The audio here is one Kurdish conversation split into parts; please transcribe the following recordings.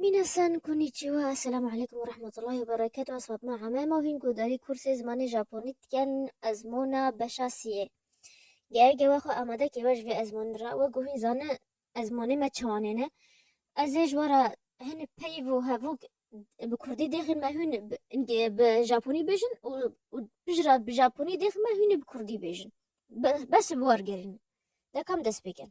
Minasan konnichiwa, Esselamu Aleykum ve Rahmetullahi ve Berekatuhu Ez Fatma Hame ma hîn guhdarî kursê zimanê Japonî dikin ezmûna beşa siyê. Ger gewa xwe amade kiribe ji vê ezmûnê re wek ku hîn zane ezmûnê me çawanê ne. Ez ê ji we re hin peyv û hevok bi kurdî dêxin me hûn bi îngî bi japonî bêjin û û pijra bi japonî dêxin me hûn ê bi kurdî bêjin. Be bes bi wergerîn de kam dest pê kin.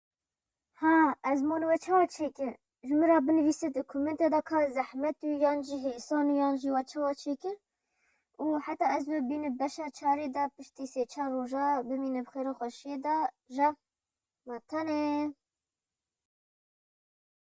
Ha, ez mon we çawa çêkir? Ji min re binivîse di komêntê de ka zehmet û yan jî hêsan û yan jî we çawa çêkir û heta ez we bînim beşa çarê de piştî sê çar roja bimîne bi xêr û xweşiyê de ja. Ma tenê.